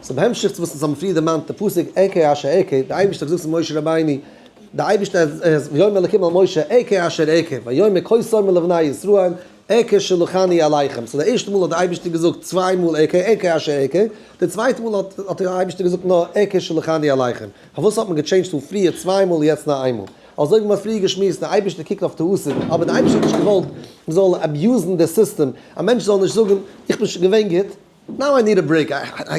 ס'איז בהמשך צו וואס אונז האבן פריער דערמאנט די פסוק ע כ אשר ע כ, די אייבערשטער האט געזאגט צו משה רבינו, די אייבערשטער האט ויאמר אלקים אל משה ע כ אשר ע כ ויאמר כה סאמר לבני ישראל ע כ שלחני אליכם, סאו די ערשטע מאל האט די אייבערשטער געזאגט צוויי מאל ע כ ע כ אשר ע כ, די צווייטע מאל האט האט די אייבערשטער געזאגט נאר ע כ שלחני אליכם, פארוואס האט מען געטשעינדזשט פון פריער צוויי מאל יעצט נאר איין מאל? אזוי ווי מען האט פריער געשמועסט די אייבערשטער קוקט אויף טעותים, אבער די אייבערשטער האט נישט געוואלט מען זאל אביוזן די סיסטעם, א מענטש זאל נישט זאגן איך בין שוין געווען גוט, נאו איי ניד א ברעיק,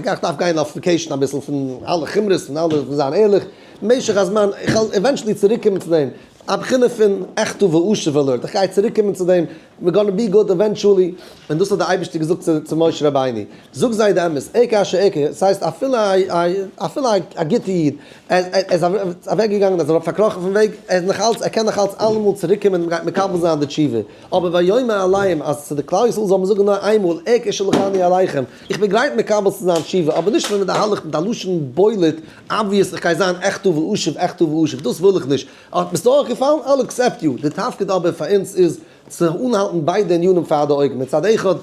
איך דארף גיין אויף וועקעישן אביסל פון אלע חומרות פון אלע פון זיין ערליך משך הזמן, איך וועל עווענטשעלי צוריק קומען צו דעם, א בחינה פון עכתא ועשו ולרד, איך גיי צוריק קומען צו דעם, ווער גאנע בי גוד עווענטשעלי, און דאס האט דער אייבערשטער געזאגט צו צו משה רבינו, זאג זיי די אמת, עקה אשר עקה, עס הייסט אפילו א א אפילו א גוטע איד, ער איז ער איז אוועק געגאנגען, ער איז פארקראכן פון וועג, ער איז נאך אלץ ער קען נאך אלץ אלעמאל צוריק קומען און מ'גייט מקבל זיין די תשובה. אבער ויאמר עליהם אז צו די כלל ישראל זאל מען זאגן נאר איינמאל עא כ שלחני אליכם, איך בין גרייט מקבל צו זיין תשובה, אבער נישט ווען מהלך מיט א לשון בולט אבוויעס איך גיי זיין עכ טוב ואשוב עכ טוב ואשוב, דאס וויל איך נישט, האט מיר עס אויך געפאלן, איי'ל עקסעפט יו, די תפקיד אבער פאר אונז איז צו אנהאלטן ביידע ענינים פאר די אויגן, מצד אחד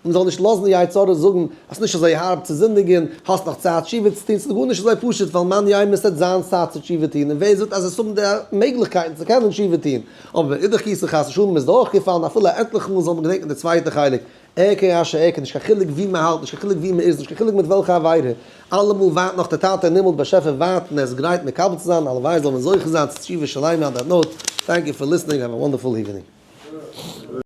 מען זאל נישט לאזן די יצה ר זאגן אז ס'איז נישט אזוי הארב צו זינדיגן, האסט נאך צייט תשובה צו טון, ס'איז גארנישט אזוי פשוט ווייל מאן יימר ס'עט זיין צייט צו תשובה טון, און ווער זאגט אז עס האבן די מעגליכקייטן צו קענען תשובה טון. אבער מאידך גיסא חס ושלום איז דורכגעפאלן אפילו א עטליכע מאל זאל מען געדענקן די צווייטע חלק, ער כ א ש ער כ נישט קיין חילוק ווי מען האלט נישט קיין חילוק ווי מען איז נישט קיין חילוק מיט וועלכע עבירה, אלעמאל ווייט נאך דער טאטע אין הימל באשעפער ווארט און ער איז גרייט מקבל צו זיין, הלוואי זאל מען זוכה זיין צו תשובה שלימה אן דעט נאוט, טענק יו פאר ליסטענינג האוו א וואנדערפול איווענינג.